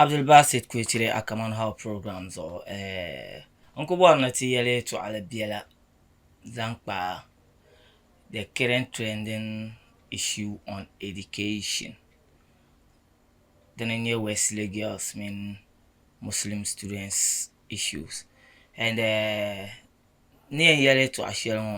Abdulbasit Kuitire a Common How program zuɣu eh, n ku bɔri ni ti yɛli tɔɣili biɛla zaŋ kpa the current trending issue on education dini n-nyɛ Wesley girls mini Muslim students issues and eh, ni yɛn yɛli tɔɣ shɛli ŋɔ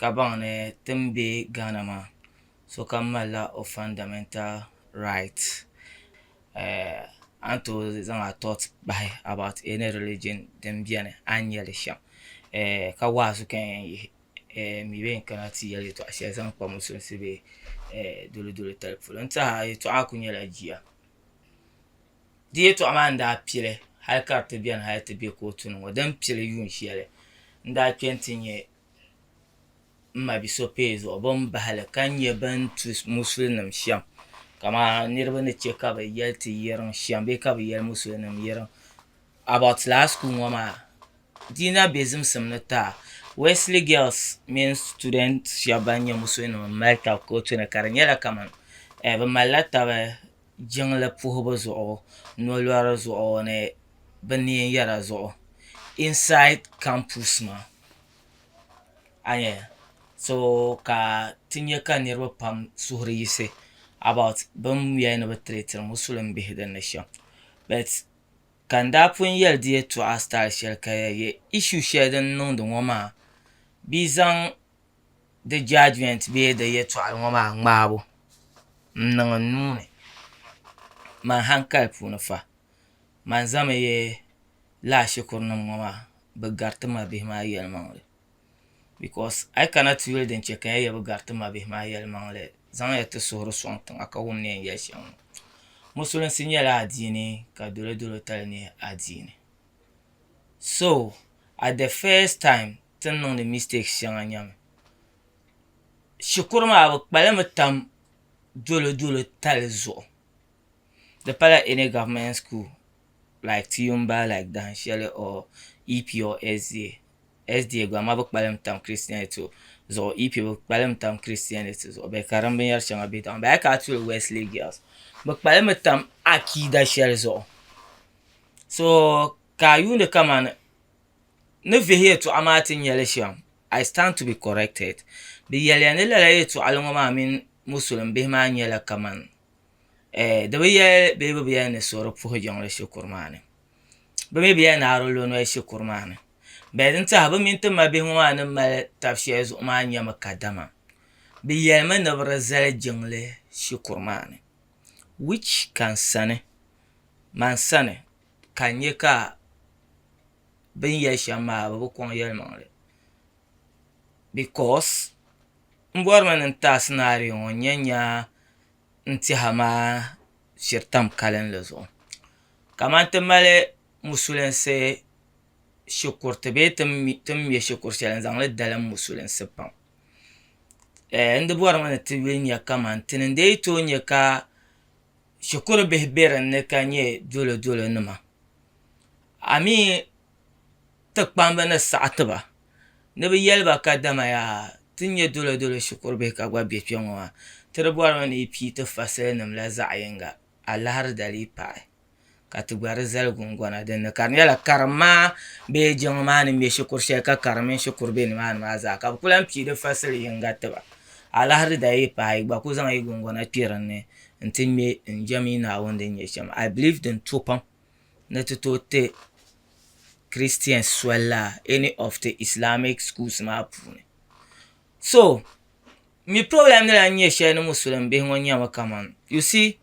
ka baŋ ni ti ni be Ghana maa sokam malila o fundamental right a ni tooi zaŋ a thought bahi about any religion din beni a ni nyeli shem ka wa'azu ka n yen yihi n mi be yɛn kana ti yeli yetɔɣa sheli zaŋ kpa musulinsi bee doli doli tali polo n tehiya yetɔɣa maa kuli nyela jia. Di yɛltɔɣa maa ni daa pili hali ka di ti beni hali ti be kootu ni ŋɔ, din pili yuun shɛli n-daa kpe nti nyɛ m ma Bisopee zuɣu bɛ ni bahi li ka nyɛ bɛ ni tu Musulinim shɛm kamani niriba ni chɛ ka bɛ yɛli ti yirim shɛm bee ka bɛ yɛli Musulinim yirim about lala sukuu ŋɔ maa di na be zimsim ni taa Wɛsili gɛls mini situdɛnti shɛba ban nyɛ Musulinim m-mali taba kootu ni ka di nyɛla kamani bɛ malila taba jiŋli puhibu zuɣu nolɔri zuɣu ni bɛ neen yara zuɣu insaid kampus maa a ni yɛli so ka ti nya ka niriba pam suhuri yiɣisi abɔt bɛn yɛli ni bɛ tiriitiri musulim bihi din ni shɛm bɛt ka n daa pun yɛli di yɛltɔɣa sitail shɛli ka di yɛn yɛ ishu shɛli din niŋdi ŋɔ maa bɛ yi zaŋ di judgment bee di yɛtɔɣa ŋɔ maa ŋmaabu n niŋ n nuu ni mani hankali puuni fa mani zami yi laa shikuru nim ŋɔ maa bi gari ti mabihi maa yɛlimaŋli because a yi kana ti yuli din chɛ ka ya yɛli bi gari ti mabihi maa yɛlimaŋli zaŋ ya ti suhuri sɔŋ tiŋa ka wum ni yɛn yɛli shɛm ŋɔ musulinsi nyɛla adiini ka dolo dolo tali nyɛ adiini so at the first time ti ni niŋdi mistakes shɛŋa nyɛmi shikuru maa bɛ kpalimi tam dolodolo tali zuɣu di pala any government school like ti yumba like dahin shɛli or EP or SDA, SDA gba amaa bɛ kpalim tam christianity zuɣu EP bɛ kpalim tam christianity zuɣu bɛ ka din binyɛr shɛŋa be tiŋa bɛ a kana ti yuli wesley girls bɛ kpalimi tam akiida shɛli zuɣu so ka a yuuni kamani ni vihi yɛltɔɣa maa ti nya li shɛm, I stand to be corrected, di yɛliya ni lala yɛltɔɣili ŋɔ maa mini Musulim bihi maa nyɛla kaman ɛɛh di bi yɛli bee bɛ bi yɛli ni so di puhi jiŋli shikuru maa ni. Bɛ mi bi yɛli ni aro lo noli shikuru maa ni. Bɛ din tɛha bɛ mini ti ma bihi ŋɔ maa ni mali tab shɛli zuɣu maa nyɛmi kadama bɛ yɛlimi ni bɛ di zali jiŋli shikuru maa ni which ka n sani man sani ka n nya ka bini yɛli shɛm maa bɛ bi kɔŋ yɛlimaŋli bicos m bɔrimi ni n ti a scenario ŋɔ n yɛn nya n tɛha maa shiri tam kalinli zuɣu kaman ti mali musulinsi shikuriti bee ti ni me shikuru shɛli n zaŋli dalim musulinsi pam n di bɔrimi ni ti nya kaman ti ni n-lee tooi nya ka shikuru bihi be din ni ka nyɛ dolo dolo nima a mi ti kpamba ni saɣi ti ba ni bɛ yeli ba ka dama yaa ti nyɛ dolo dolo shikuru bihi ka gba be kpe ŋɔ maa ti di bɔri mi ni yi pii ti fasili nima la zaɣi yinga a lahiri dali yi paai. ka ti gba di zali gungona din ni ka di nyɛla karim maa bee jiŋli maa ni ŋmɛ shikuru shɛli ka karim mini shikuru bɛ nimaani maa zaa ka bi ku lahi pii di fasili yinga tiba alahiri daa yi paai yi gba ku zaŋ yi gungona kpɛ dinni n ti ŋmɛ n jɛm yi Naawuni din nyɛ shɛm ai biliiv din to pam ni ti tooi ti kiristɛns soli laa ɛni ɔf ti islamic shuls maa puuni. So, mi problem ni lan nyɛ shɛli ni Musulim bihi ŋɔ nyɛmi kaman, you see,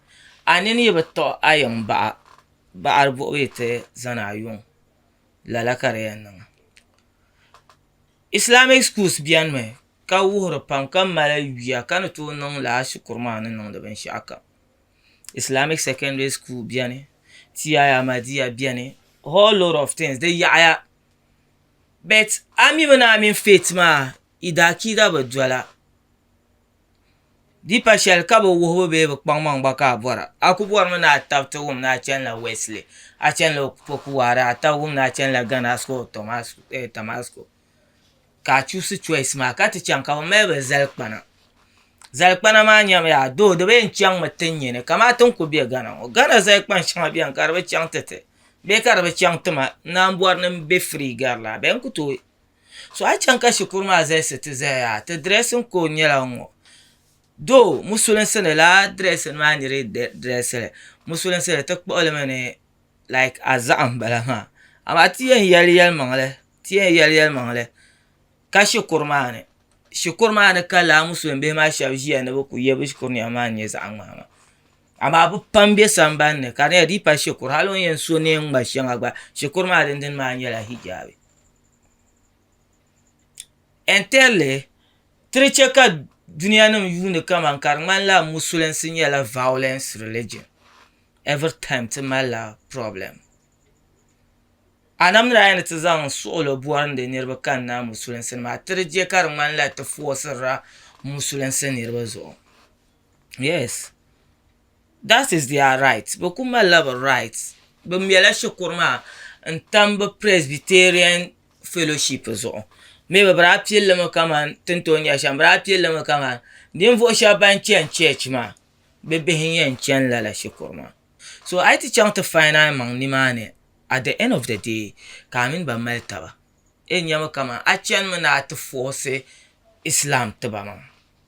a nini yi bi tiɣi a yiŋ baɣa baɣiri buɣibu yi ti zani a yuŋ, lala ka di yɛn niŋ. Islamic schools bɛnimi ka wuhiri pam ka mali yuya ka ni tooi niŋ lala shikuru maa ni niŋdi binshɛɣu kam. Islamic secondary school bɛni, T.I Ahmadiyya bɛni, whole lot of things, di yaɣiya. But a mi mi ni a mini Faith maa yi daa kiida bi dola. Deepa shɛli ka bi wuhibu bee bi kpaŋmaŋ gba ka a bɔra. A ku bɔrimi ni a taba ti wum ni a chanila Wesley, a chanila Opokuware, a taba wum ni a chanila Ghana School of Tamasco. Ka a chuusi choice maa ka ti chaŋ ka bi mali ba zalikpana. Zalikpana maa nyamiya though di bi yɛn chaŋmi ti nyini kamati n ku be Ghana ŋɔ. Ghana zalikpan shɛŋa beni ka di bi chaŋ ti ti. Bɛ ka di bi chaŋ ti ma naanbɔri ni m-be free gari la bɛ n ku tooi so a chaŋ ka shikuru maa zalisi ti zaya yaa ti dressing code nyɛla n ŋɔ though musulinsi ni lala dressing maa n-nyɛ din dressing li musulinsi ni ti kpuɣi li mi ni like a zahim m-bala maa amaa ti yɛn yali yalimaŋli ti yɛn yali yalimaŋli ka shikuru maa ni shikuru maa ni ka lala musulim bihi maa shɛba ʒiya ni bɛ ku ye bɛ shikuru nɛma maa n-nyɛ zaɣ'ŋmahi maa Amaa bɛ pam be sambani ni ka di nyɛla di yi paai shikuru hali o ni yɛn so neen ŋma shɛŋa gba shikuru maa din dini maa nyɛla hijaabi and thirdly ti di che ka dunianim yuuni kaman ka di ŋmanila musulinsi nyɛla violence religion every time ti malila problem anamdila a yi ni ti zaŋ suɣilo bɔrindi niriba kanna musulinsi ni maa ti di che ka di ŋmanila ti foosirila musulinsi niriba zuɣu yes that is their right bɛ kuli malila bɛ right bɛ mɛla shikuru maa n tam bɛ presbyterian fellowship zuɣu maybe bɛ daa pili li mi kaman tin tooi nya shɛm bɛ daa pili li mi kaman ninvuɣu shɛba ban chani church maa bɛ bihi n yɛn chani lala shikuru maa so a yi ti chaŋ ti fain a maŋa nimaani at the end of the day ka a mini ba mali taba a yɛn nya mi kaman a chani mi ni a ti force islam tiba maa.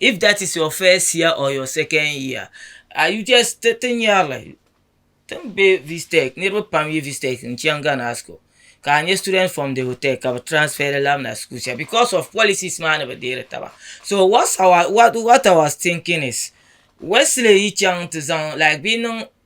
if that is your first year or your second year are you just ti ti nyarili ti ni be vstec niriba pam yi vstec n chaŋ Ghana high school ka a nya students from the hotel ka bɛ transfer li labina school sheli because of policies maa ni bi deeri taba so what our thinking is Wesley yi chaŋ ti zaŋ like bɛ yi niŋ.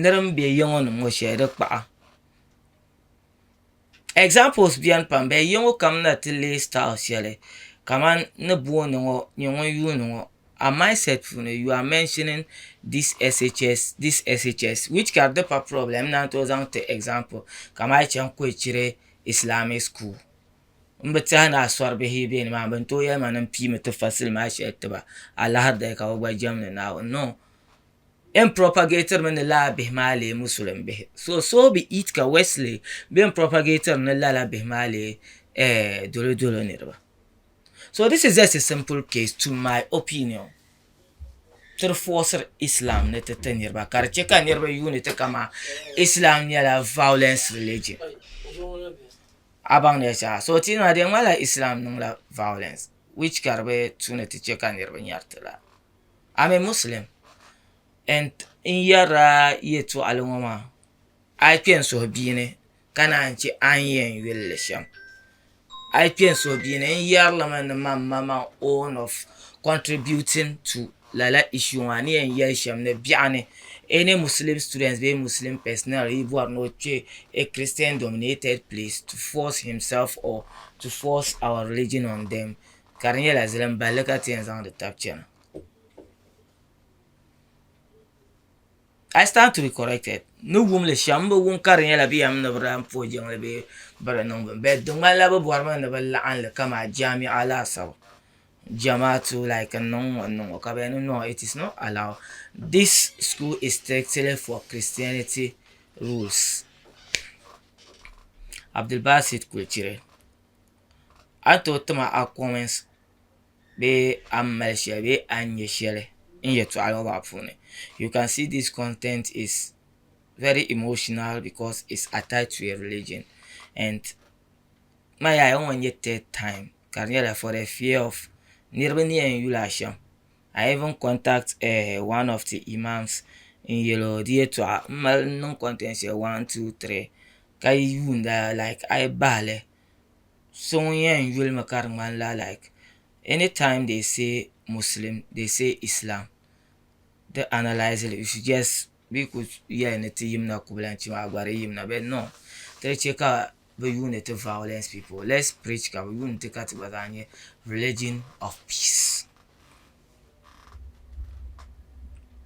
Nir n be ya ŋɔ ni ŋɔ shɛli di kpaɣa. Examples beni pam but ya ŋɔ kam na ti leei style shɛli kamani ni booni ŋɔ nyɛ ŋun yuuni ŋɔ a mindset puuni you are mentioning this SHS this SHS which ka di ti pa problem n naan tooi zaŋ ti example kamani a yi chaŋ Kɔichire Islamic school m bi tehi ni asɔribihi yi be ni maa ni bɛn tooi yɛli ma ni m piimi ti fasili maa shɛli ti ba alahiday ka bɛ gba jɛmdi Naawuni no. Yɛn propagated mi ni lala bihi maa leei Musulim bihi. So, so be it ka Wesley bɛn propagated ni lala bihi maa leei eh, Dolodolo niriba. So this is just a simple case to my opinion. Ti di forced Islam ni ti ti niriba ka di che ka niriba yuuni ti kama Islam nyɛla violence religion. A baŋ ni shɛha. So ti na di yɛn ŋmanila Islam niŋla violence which ka di bi tu ni ti che ka niriba nyari ti la. a mi Muslim n yɛrila yɛtɔɣili ŋɔ maa a yi kpɛn suhi bia ni ka naan che a ni yɛn yuli li shɛm a yi kpɛn suhi bia ni n yɛrili mi ni man ma my own of contributing to lala issue ŋɔ a ni yɛn yɛli shɛm ni biɛɣu ni any Muslim student bee Muslim personnel yi bɔri ni o kpe a Christian dominated place to force himself or to force our religion on them ka di nyɛla zilim balli ka ti yɛn zaŋdi tabi chɛna I stand to be corrected ni wum li shɛm n bi wum ka di nyɛla bɛ yɛn mi ni bɛ daa puhi jiŋli bee bɛ di niŋ bini bɛt di ŋmanila bɛ bɔri mi ni bɛ laɣim li kaman jamiya laasabu Zamaatu laik n niŋ ŋɔ n niŋ ŋɔ ka bɛ yɛn niŋ noo it is not allowed dis skuul is strictly for christianity rules Abdulbasit Kulchiri. a ni tooi tima a comments bee a ni mali shɛli bee a ni nyɛ shɛli n yɛltɔɣa ŋɔ maa puuni you can see this content is very emotional because it's attached to a religion and n nya a ŋɔ n-nyɛ third time ka di nyɛla for the fear of niriba ni yɛn yuli a shɛm I even contact one of the imams n-yɛl o di yɛltɔɣa m mali niŋ content shɛli one two three ka yi yuunda like a yi bahi li so ŋun yɛn yuli mi ka di ŋmani la like any time they say Muslim they say Islam di analyse li you should just bee ku yɛli ni ti yimina kubulanchi maa gba di yimina but no ka di chɛ ka bi yuuni ti violence people let's preach ka bi yuuni ti ka ti gba zaa nyɛ religion of peace.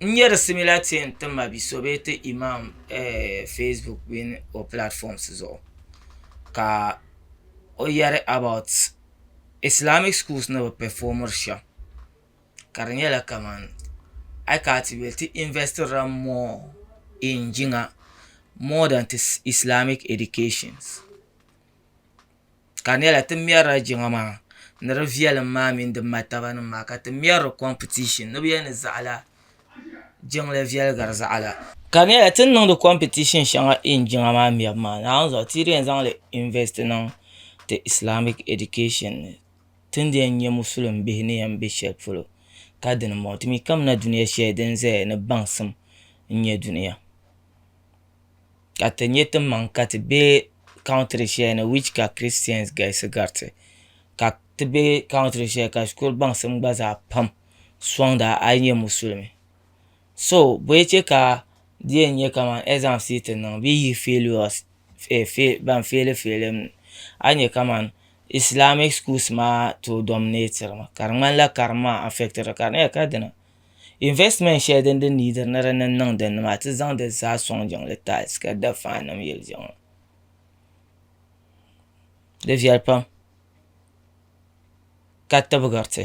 N nyɛ di simila ti n ti ma bi so bee ti Imaam facebook mini o platforms zuɣu ka o yɛri about islamic schools ni bi pɛfomiri shɛm ka di nyɛla kaman a yi kana ti yuli ti invɛsitira more in jiŋa more than islamic educations ka di nyɛla ti mɛrila jiŋa maa ni di viɛlim maa mini di martaba nim maa ka ti mɛri di kompitishin ni bi yɛn ni zaɣila jiŋli viɛligiri zaɣila ka di nyɛla ti ni niŋdi kompitishin shɛŋa ɛn jiŋa maa mɛbu maa naawuni zuɣu ti yi di yɛn zaŋli invɛst niŋ ti islamic ɛdikashin ni ti ni yɛn nyɛ musilim bihi ni yɛn bɛ shɛli polo ka dini n bɔŋɔ ti mii kamina dunia shɛli din ʒɛya ni baŋsim n nyɛ dunia ka ti nyɛ timaŋ ka ti be country shɛli ni which ka christians galisi gariti ka ti be country shɛli ka shikuru baŋsim gba zaa pam sɔŋda a yi nyɛ musulimi so bɔyi che ka di yɛn nyɛ kaman exams yi ti niŋ bee yi failures ban feeli feeli mi a ni nyɛ kaman islamic schools maa tooi dominate ri mi ka di ŋmanila karim maa affect ri ka di na yɛli ka dini Investment shɛli din di neediri ni di ni niŋ dinni maa ti zaŋ di zaa sɔŋ jiŋli tiles ka da fan nim yili diɣi ŋɔ di viɛli pam ka tibigiriti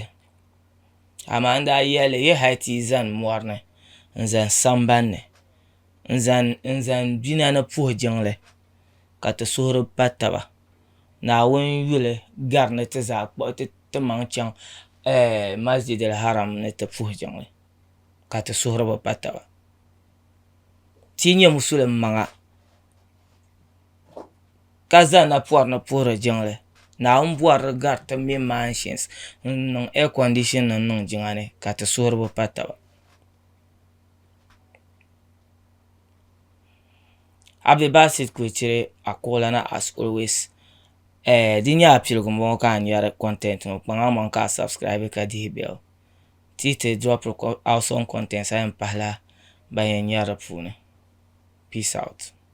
amaa n daa yɛli yi hali ti yi zani mɔri ni n zani sambanni n zani n zani bina ni puhi jiŋli ka ti suhuri pa taba Naawuni yuli gari ni ti zaa kpuɣi ti timaŋ chaŋ Masjidil Haram ni ti puhi jiŋli ka ti suhuri bi pa taba. Ti yi nyɛ Musulim maŋa ka za napɔri ni puhiri jiŋli, Naawuni bɔri di gari ti mini manshins n-niŋ air condition nim niŋ jiŋa ni ka ti suhiri bi pa taba. Abdulbasit Kulichiri Akoolana as always eh, di nyɛla piligu n bɔŋɔ ka a nyari content ŋɔ kpaŋa maŋ ka a subscribe ka dihi bell ti yi ti drop awesome content a yɛn pahila ban yɛn nyari di puuni peace out.